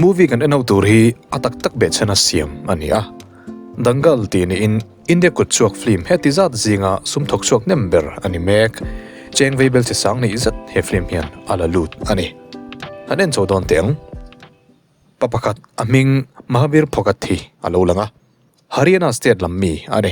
Movie kan en ho tur hi a tak tak beh chhena siam a ni a. Dangal tih niin India kut chhuak film heti zat zinga sum thawk chhuak nem ber a ni mek. Cheng vei bel chesang neih zet he film hian a la lut a ni. Kan en chho dawn teh ang. Pa pakhat a hming Mahavir Phogathi a lo lang a. Haryana state lam mi a ni.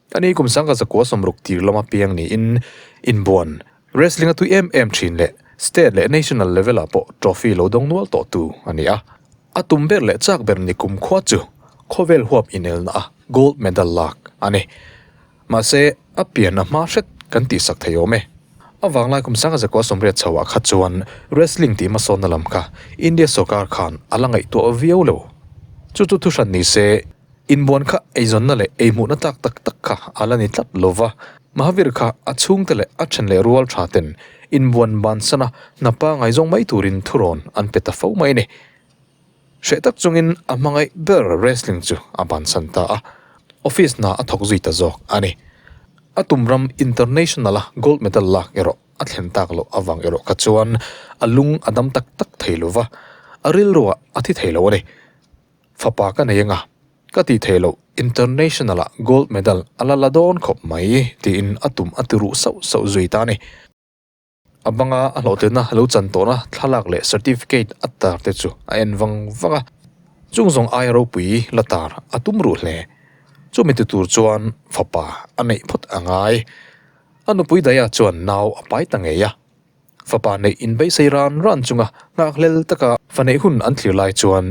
Ka ni kum sangka zakua sawmruk tir lawm apiang niin inbuan wrestling a tui em em thin leh state leh national level ah pawh trophy lo dawng nual tawh tu a ni a, a tum ber leh chak ber ni kum khua chu khawvel huap inelna a gold medal lak a ni. Mahse a pian a hma hret kan tih sak thei awm e. A vanglai kum sangka zakua sawmriat chho ah kha chuan wrestling tih hmasawnna lam kha India sawrkar khan a la ngaihtuah viau lo. Chu chu thuhran nise. Inbuan kha eizawnna leh eihmuhna tlak tak tak kha a la ni tlat lo va, Mahavir kha a chhungte leh a then leh rual tha ten inbuan ban sana hna pangai zawng mai turin thurawn an pe ta fo mai a ni. Hreh tak chungin a hmangaih ber wrestling chu a ban san ta a, office hna a thawk zui ta zawk a ni. A tum ram International-a gold medal lak erawh a thlen tak loh avang erawh kha chuan a lung a dam tak tak thei lo va, a rilruah a thi thei lo a ni. Fapa ka nei anga, ka tih theih loh, International ah Gold Medal a la la dawn khawp mai, tiin a tum a ti ruh sauh sauh zui ta a ni. A banga a hlawhtlinna lo chan tawhna thlalak leh certificate a tar te chu a en vang vang a, chung zawng aia ropui la tar a tum ruh hle. Chumi ti tur chuan fapa a neih phawt a ngai. A nupui Daya chuan nau a pai ta ngei a. Fapa neih in beisei ran ran chunga nghakhlel taka faneih hun an thlir lai chuan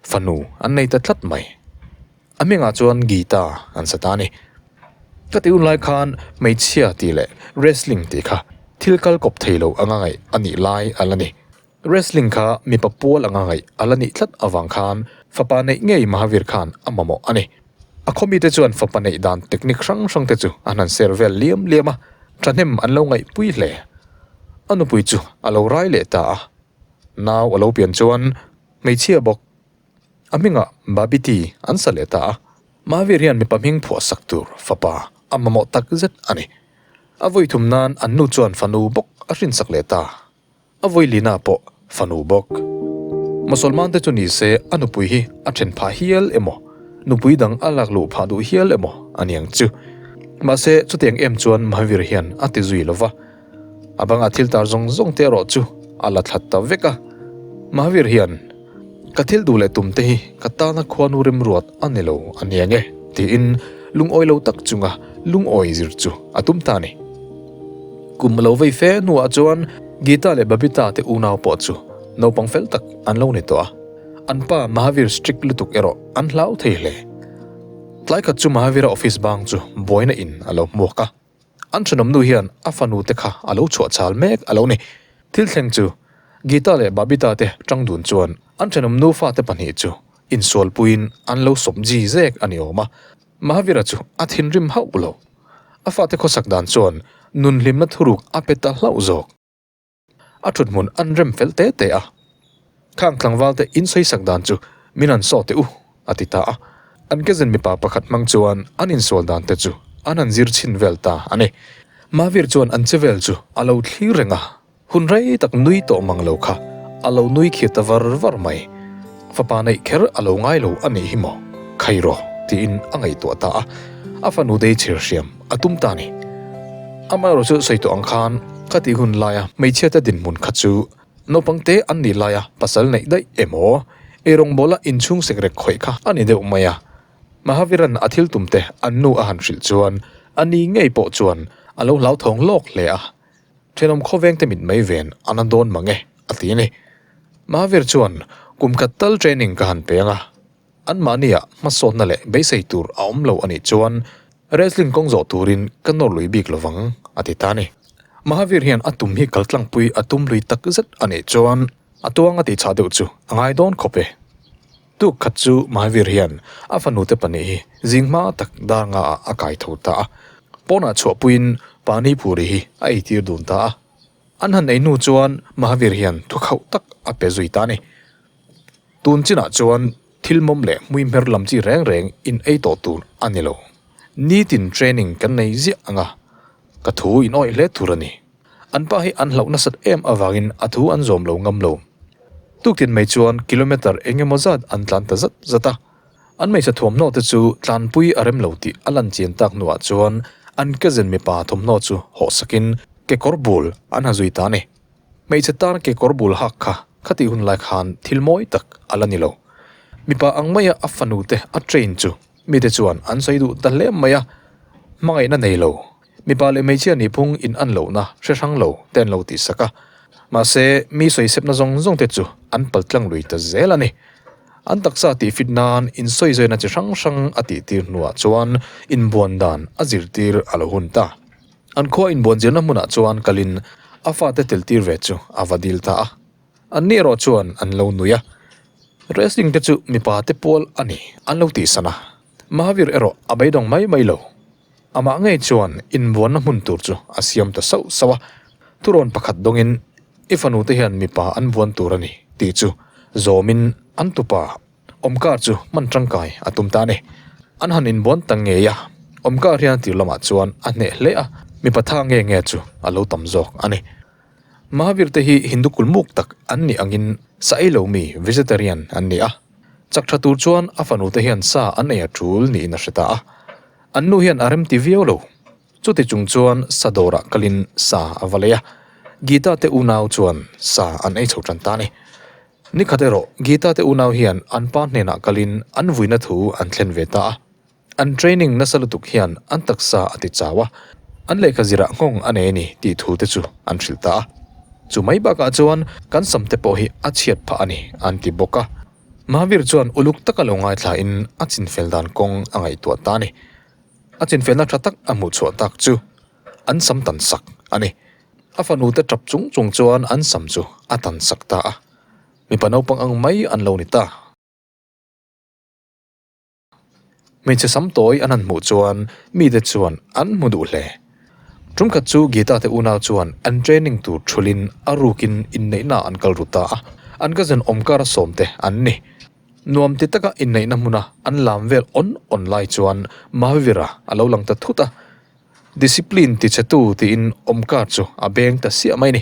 fanu an nei ta tlat mai. A mengah chuan Geeta an sa ta a ni. Ka ti hun lai khan hmeichhia tih leh wrestling tih kha thil kal kawp thei lo anga ngaih a nih lai a la ni. Wrestling kha mipa pual anga ngaih a la nih tlat avang khan fapa neih ngei Mahavir khan a mamawh a ni. A khawmi te chuan fapa neih dan technique hrang hrang te chu an han share vel liam liam a, thahnem an lo ngaihpui hle. A nupui chu a lo rai leh ta a, nau a lo pian chuan hmeichhia bawk a hmingah Babiti an sa leh ta a. Mahavir hian mipa hming phuahsak tur fapa a mamawh tak zet a ni. A vawi thum nan an nu chuan fanu bawk a hrinsak leh ta. A vawilinah pawh fanu bawk. Mosolmante chu ni se a nupui hi a then phah hial emaw, nupui dang a lak luh phah duh hial emaw a niang chu. Mahse, chutiang em chuan Mahavir hian a ti zui lo va. A banga thil tar zawng zawngte erawh chu a la thlat ta vek a. Mahavir hian. Ka thil duh leh tum te hi ka tana khuanu remruat a ni lo a nia nge? tiin lungawi lo tak chunga lungawi zir chu a tum ta a ni. Kum lo vei fe hnuah chuan Geeta leh Babita te unau pawh chu naupang fel tak an lo ni tawh a, an pa Mahavir strict lutuk erawh an hlau thei hle. Tlai khat chu Mahavira office bang chu buaina in a lo hmuak a. An thenawmnu hian a fanu te kha a lo chhuah chal mek a lo ni. Thil thleng chu, Geeta leh Babita te tang dun chuan an thenawmnu fate pahnih chu insualpuiin an lo sawp ji zek a ni awm a. Mahavira chu a thinrim hauh lo. A fate khawsak dan chuan nunhlimna thuruk a pe ta hlauh zawk. A thutmun an rem fel te te a. Khang tlangvalte insawi sak dan chu min han saw teh u a ti ta a. An kezen mipa pakhat hmang chuan an insual dan te chu an han zir chhin vel ta a ni. Mahvir chuan an che vel chu a lo thlir reng a, hun rei tak nui tawh mang lo kha a lo nui khir ta var var mai. Fapa neih kher a lo ngai lo a nih hi maw, khairaw tiin a ngaihtuah ta a. A fanu dei chhir hriam. A tum ta ni. Amaherawh chu sawi tawh ang khan ka tih hun laia hmeichhiate dinhmun kha chu naupangte an nih laia pasal neih daih em aw. Eirawngbola inchhung sek rek khawih kha a ni deuh mai a. Mahaviran a thil tumte an nu a han hrilh chuan a ni ngei pawh chuan a lo hlauthawng lawk hle a. Thenawm khawvengte mit mai ven a na dawn mang e a ti a ni. Mahavir chuan kum khat tal training ka han peng a. Anmahnia hmasawtna leh beisei tur a awm lo a nih chuan Wrestling kawng zawh turin ka nawr lui bik lo vang, a ti ta ni. Mahavir hian a tum hi kaltlangpui a tum lui tak zet a nih chuan a tuang a tih chah deuh chu a ngai dawn khawp e. Tuk khat chu Mahavir hian a fanute pahnih hi zing hma tak darnga ah a kai tho ta a, pawnah chhuah puiin pani puri hi a ei tir dun ta a. An han ei hnu chuan Mahavir hian thukhauh tak a pe zui ta ni. Tun chinah chuan thil mawm leh hmui hmer lam chi reng reng in ei tawh tur a ni lo. Nitin training kan nei ziah ang a, ka thu in awih hle tur a ni. An pa hi an hloh nasat em avangin a thu an zawm lo ngam lo. Tuktin mei chuan kilometre eng emaw zat an tlan ta zat zat a. An hmeichhe thuamhnaw te chu tlanpui a rem lo tih a lanchian tak hnuah chuan an kezen mipa thawmhnaw chu hawhsakin kekawr bul an ha zui ta a ni. Hmeichhe tar kekawr bul hak kha khati hun lai khan thil mawi tak a la ni lo. Mipa ang maia a fanu te a train chu mite chuan an sawi duh ta hle mai a, hmangaihna nei lo, mipa leh hmeichhia nihphung in an lohna hre hrang lo te an lo tih sak a. Mahse mi sawi sepna zawng zawng te chu an pal tlang lui ta zel a ni. An taksa tihfit nan insawi zawina chi hrang hrang a tihtir hnuah chuan inbuan dan a zirtir a lo hun ta. An khua inbuan zirna hmunah chuan Kalin a fate teltir ve chu a va dil ta a, an ni erawh chuan an lo nui a, Wrestling te chu mipa te pual a ni an lo tih san a, Mahavir erawh a beidawng mai mai lo, amah ngei chuan inbuanna hmun tur chu a siam ta sauh sauh a, turawn pakhat dawngin i fanute hian mipa an buan tur a ni tih chu zawmin an tupa Awmkar chu hman tangkai a tum ta ni. An han inbuan ta ngei a, awmkar hian tir lamah chuan a hneh hle a, mipa tha nge nge chu a lo tam zawk a ni. Mahavir te hi Hindu kulmuk tak an nih angin sa ei lo mi, vegetarian, an ni a. Chak tha tur chuan a fanu te hian sa an ei a tul niin a hre ta a. An nu hian a remti viau lo. Chutichung chuan sa dawrah kalin sa a va lei a. Gita te unau chuan sa an ei chho tan ta ni. Ni khat erawh Geeta te unau hian an pa hnenah kalin an vuina thu an thlen ve ta a. An training nasa lutuk hian an taksa a ti chau a, an lehkha zirah nghawng a nei ni tih thu te chu an hrilh ta a. Chu mai bakah chuan kan sam te pawh hi a chhiat phah a ni an ti bawk a. Mahavir chuan uluk taka lo ngaithlain a chinfel dan kawng a ngaihtuah ta a ni. A chinfelna tha tak a hmuhchhuah tak chu an sam tan sak a ni. A fanu te tap chung chung chuan an sam chu a tan sak ta a, mipa naupang ang mai an lo ni ta. Hmeichhe sam tawi an han hmuh chuan mite chuan an hmu duh hle. Tumkhat chu Geeta te unau chuan an training tur thulin a rukin inneihna an kal ru ta a, an ka zen awmkara sawm te an ni. Nuam ti taka inneihna hmuna an lam vel awn awn lai chuan Mahavira a lo lang ta thut a. Discipline tichhetu tiin awmkar chu a beng ta siah mai ni.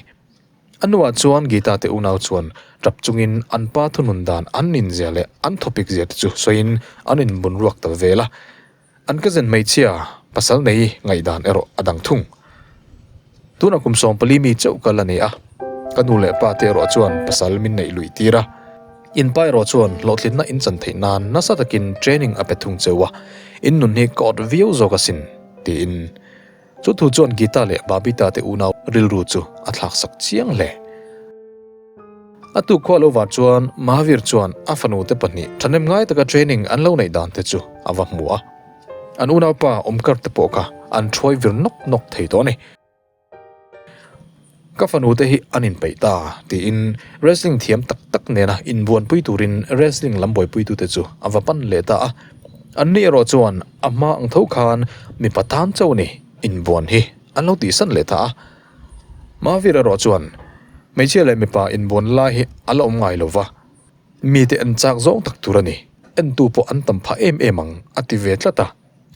A hnuah chuan Geeta te unau chuan tap chungin an pa thunun dan an inzia leh an thawpik zia te chu sawiin an inbunruak ta vel a. An cousin hmeichhia pasal nei ngaihdan erawh a dang thung. Tuna kum sawm pali mi chauh ka la neih a, ka nu leh pa te erawh chuan pasal min neih lui tir a. In pa erawh chuan hlawhtlitna in chan theih nan nasa takin training a pe thung cheu a, in nun hi ka awt viau zawk asin, tiin chu thu chuan Geeta leh Babita te unau rilru chu a thlak sak chiang hle. A tukhua lo vah chuan Mahavir chuan a fanu te pahnih thahnem ngai taka training an lo neih dan te chu a va hmu a. An unaupa awmkar te pawh kha an thruai vir nawk nawk thei tawh a ni. Ka fanu te hi an inpeih ta tiin wrestling thiam tak tak nena inbuanpui turin wrestling lam buaipuitu te chu a va pan leh ta a. An ni erawh chuan a hma ang tho khan mipa tan chauh ni inbuan hi an lo tih san leh ta a. Mahavir erawh chuan hmeichhia leh mipa inbuan lai hi a la awm ngai lo va. Mite en chak zawng tak tur a ni. Entu pawh an tam phah em em ang, a ti ve tlat a.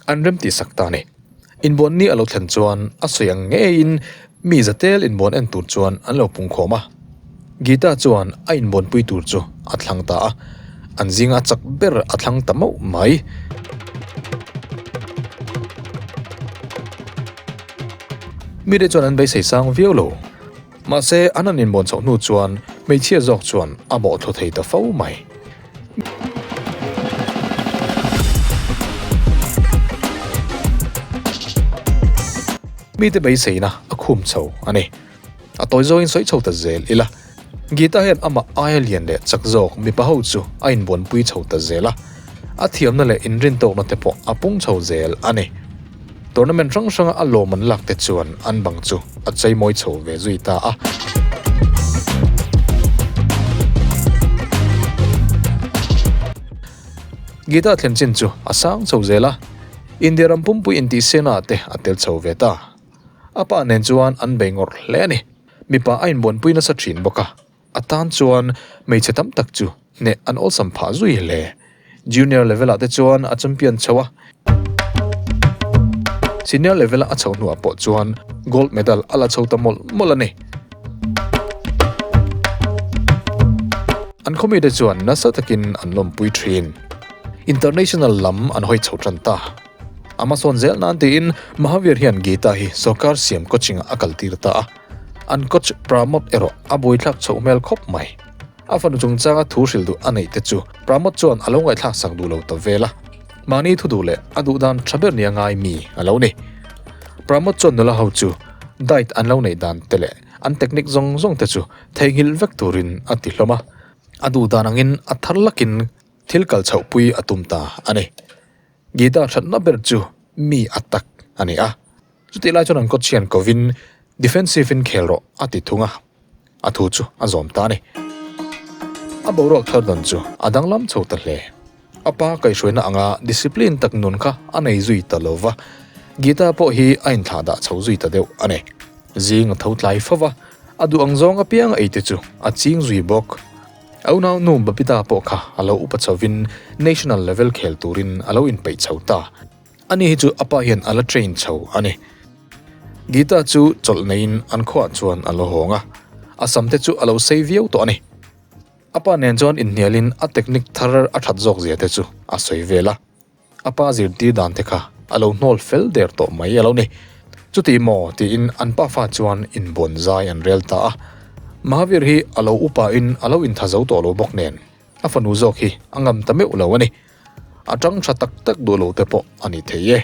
An remtih sak ta a ni. Inbuan ni a lo thlen chuan a sawi ang ngeiin mi zatel inbuan en tur chuan an lo pungkhawm a. Geeta chuan a inbuanpui tur chu a thlang ta a, an zinga a chak ber a thlang ta mauh mai. Mite chuan an beisei sang viau lo. Mahse, an han inbuan chhoh hnu chuan hmeichhia zawk chuan a bawhthlawh thei ta fo mai. Mite beiseina a khum chho a ni. A tawi zawngin sawi chho ta zel ila. Geeta hian amah aia lian leh chak zawk mipa ho chu a inbuanpui chho ta zel a. A thiamna leh inrin tawkna te pawh a pung chho zel a ni. Tournament hrang hranga a lawm an lakte chuan an bang chu a chei mawi chho ve zui ta a. Gita thlen chin chu a sang chho zel a, India ram pumpui intihsiakna te a tel chho ve ta. A pa nen chuan an bei ngawrh hle a ni. Mipa a inbuanpui nasa thin bawk a, A tan chuan hmeichhe tam tak chu hneh an awlsam phah zui hle. Junior level ah te chuan a champion chho a. Senior level a a chho hnuah pawh chuan gold medal a la chho ta mawlh mawlh a ni. An khawmi te chuan nasa takin an lawmpui thin. International lam an hawi chho tan ta. Amazon zel nan tiin Mahavir hian Geeta hi sawrkar siam coaching ah a kaltir ta a. An coach Pramod erawh a buaithlak chhoh hmel khawp mai. A fanu chungchanga thu hril duh a neih te chu Pramod chuan a lo ngaihthlak sak duh lo ta vel a, mahni thu duh leh a duhdan tha ber nia ngai mi a lo ni. Pramod chuan nula ho chu diet an lo neih dan te leh an technique zawng zawng te chu theihnghilh vek turin a ti hlawm a, a duhdan angin a thar lakin thil kal chhoh pui a tum ta a ni. Guitar hratna ber chu mi a tak a ni a. Chutih lai chuan an kawchian kovin defensive-in khel rawh a ti thung a, a thu chu a zawm ta a ni. A boruak thar dan chu a danglam chho ta hle. A pa kaihhruaina anga discipline tak nun kha a nei zui ta lo va, Geeta pawh hi a inthlah dah chho zui ta deuh a ni. Zing a tho tlai fo va, a duh ang zawng apianga ei te chu a ching zui bawk. A unau nu Babita pawh kha a lo upa chhovin national level khel turin a lo inpeih chho ta. Ani hi chu apa hian a la train chho a ni. Geeta chu chawlh neiin an khuaah chuan a la hawng a, a sam te chu a lo sei viau tawh a ni. Apa nen chuan inhnialin a technique thar a that zawk zia te chu a sawi vel a, a pa zirtir dan te kha a lo hnawl fel der tawh mai a lo ni. Chutih maw tiin an pa fa chuan inbuan zai an rel ta a. Mahavir hi a lo upa in a lo intha zo tawh lo bawk nen, a fanu zawk hi a ngam ta meuh lo a ni. A chang tha tak tak duh loh te pawh a ni thei e.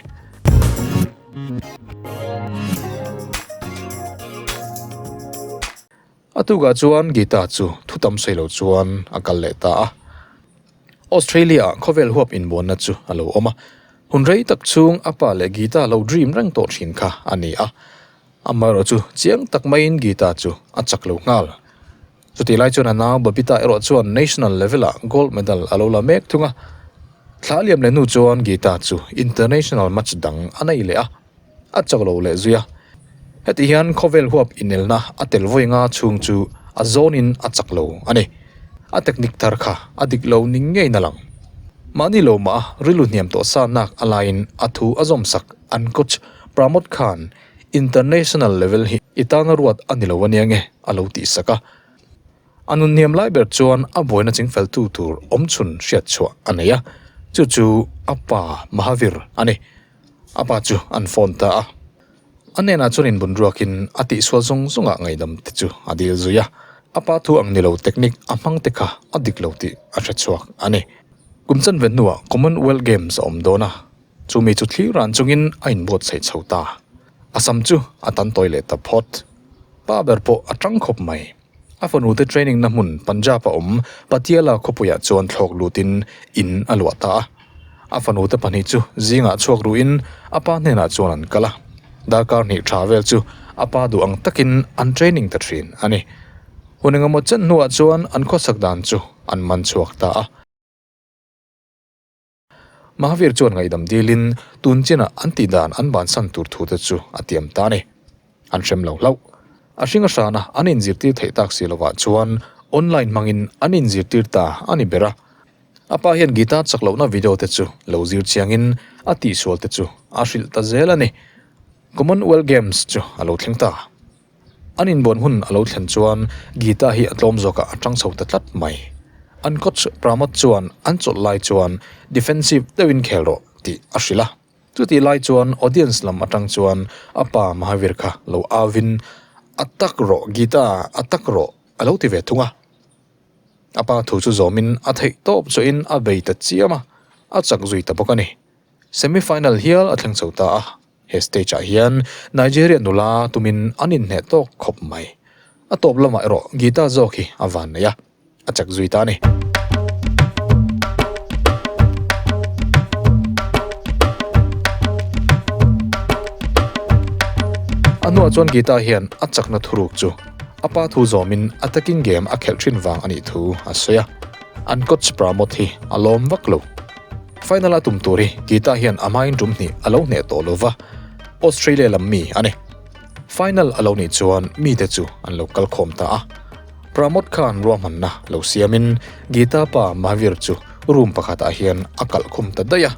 A tukah chuan Geeta chu thu tam sawi lo chuan a kal leh ta a. Australia ah khawvel huap inbuanna chu a lo awm a, hun rei tak chung a pa leh Geeta lo dream reng tawh thin kha a ni a. Amaherawhchu chiang tak maiin Geeta chu a chak lo nghal. Chutih lai chuan a nau Babita erawh chuan National level ah Gold Medal a lo la mek thung a. Thlahliam leh nu chuan Geeta chu International match dang a nei leh a, a chau lo leh zui a. Hetih hian khawvel huap inelna a tel vawi nga chhung chu a zawnin a chak lo a ni. A technique thar kha a dik lo ni ngeiin a lang. Mahni lo mah a rilru hniam tawh sannak a laiin a thu a zawmsak an coach Pramod khan International level hi i tana ruat a ni lo ania nge a lo tih sak a, a nun hniam lai ber chuan a buaina ching feltu tur awmchhun hriat chhuah a nei a, chu chu a pa Mahavir a ni. A pa chu an phone ta a, a nenah chuan inbun ruakin a tihsual zawng zawngah ngaihdam te chu a dil zui a, a pa thu ang ni lo technique a hmang te kha a dik lo tih a hre chhuak a ni. Kum chanve hnuah Commonwealth Games a awm dawn a, Chu mi chu thlir ran chungin a inbuatsaih chho ta. A sam chu a tan tawi leh ta phawt. Pa ber pawh a ṭang khawp mai. A fanute trainingna hmun Punjab a awm Patiala khawpuiah chuan thlawk lutin in a luah ta a. A fanute pahnih chu zingah chhuak ruhin a pa hnenah chuan an kal a. Darkar hnih ṭha vel chu a pa duh ang takin an training ta ṭhin a ni. Hun engemaw chan hnuah chuan an khawsak dan chu an man chhuak ta a. Mahavir chuan ngaihdam dilin, Tun chinah an tih dan an bansan tur thu te chu a tiam ta a ni. An hrem lo hlauh. A hringa hrana an inzirtir theih tak si lovah chuan online hmangin an inzirtir ta a ni ber a. A pa hian guitar chak lohna video te chu lo zir chiangin a tihsual te chu a hrilh ta zel a ni. Commonwealth Games chu a lo thleng ta. An inbuan hun a lo thlen chuan Geeta hi a tlawm zawkah a ṭang chho ta tlat mai. An coach Pramod chuan an chawlh lai chuan defensive deuhin khel rawh tih a hrilh a. Chutih lai chuan audience lam aṭang chuan a pa Mahavir kha lo avin, A tak rawh Geeta, a tak rawh a lo ti ve thung a. A pa thu chu zawmin a theih tawp chuahin a bei ta chiam a, a chak zui ta bawk a ni. Semi final hial a thleng chho ta a. He stage ah hian Nigeria nula tumin an inhneh tawk khawp mai. A tawp lamah erawh guitar zawk hi a van nei a, a chak zui ta a ni. A hnuah chuan guitar hian a chakna thuruk chu a pa thu zawmin attacking game a khelh thin vang a nih thu a sawi a. An coach Pramod hi a lawm vak lo. Final a tum tur hi Geeta hian a hmain tum hnih a lo hneh tawh lo va, Australia lam mi a ni. Final a lo nih chuan mite chu an lo kal khawm ta a. Pramod khan ruahmanna lo siamin Geeta pa Mahavir chu room pakhatah hian a kalh khum ta daih a.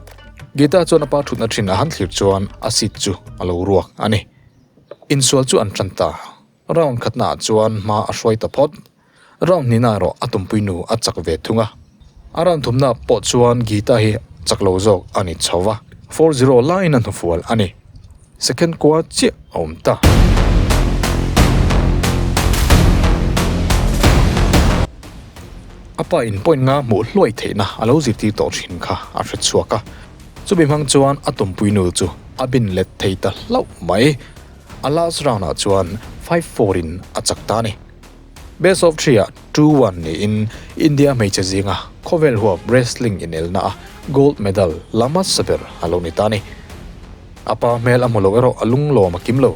Geeta chuan a pa thutna thin a han thlir chuan a seat chu a lo ruak a ni. Insual chu an tan ta. Round khatnaah chuan hma a hruai ta phawt. Round hnihna erawh a tumpui nu a chak ve thung a. A round thumna pawh chuan Geeta hi chak lo zawk a ni chho va. Four zero laiin a hnufual a ni. Second kua chiah a awm ta. A pa in point nga hmuh hluai theihna a lo zirtir tawh thin kha a hre chhuak a. Chumi hmang chuan a tumpui nu chu a bin let thei ta hlauh mai. A last round ah chuan five four in a chak ta a ni. Best of three ah two one niin India hmeichhe zinga khawvel huap wrestling inelna a gold medal la hmasa ber a lo ni ta a ni. A pa hmel a hmu loh erawh a lunglawm a kim lo.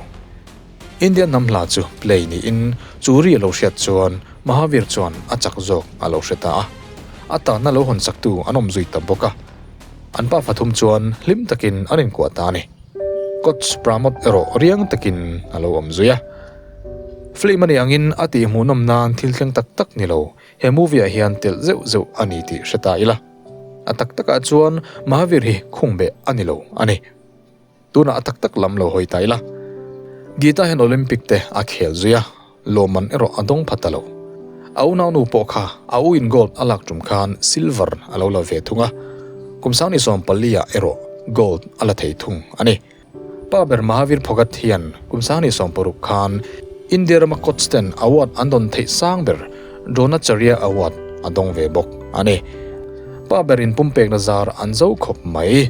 India hnam hla chu play niin chu ri a lo hriat chuan Mahavir chuan a chak zawk a lo hre ta a. A tanna lo hawnsak tu an awm zui ta bawk a. An pa pathum chuan hlim takin an inkuah ta a ni. Coach Pramod erawh riang takin a lo awm zui a. Film a nih angin a tihhmuhnawm nan thil thleng tak tak ni lo, he movie ah hian telh zeuh zeuh a ni tih hre ta ila. A tak tak ah chuan Mahavir hi khung beh a ni lo a ni. Tunah a tak tak lam lo hawi ta ila. Geeta hian Olympic te a khel zui a, Lawmman erawh a dawng phat a lo. A u naunu pawh kha a u in gold a lak tum khan silver a lo la ve thung a. Kum Sang ni sawm pali ah erawh gold a la thei thung a ni. Pa ber Mahavir Phogat hian kum sang ni sawm paruk khan India rama Cotsden Award an dawn theih sang ber Dronacharya Award a dawng ve bawk a ni. Pa ber in pumpekna zar an zo khawp mai.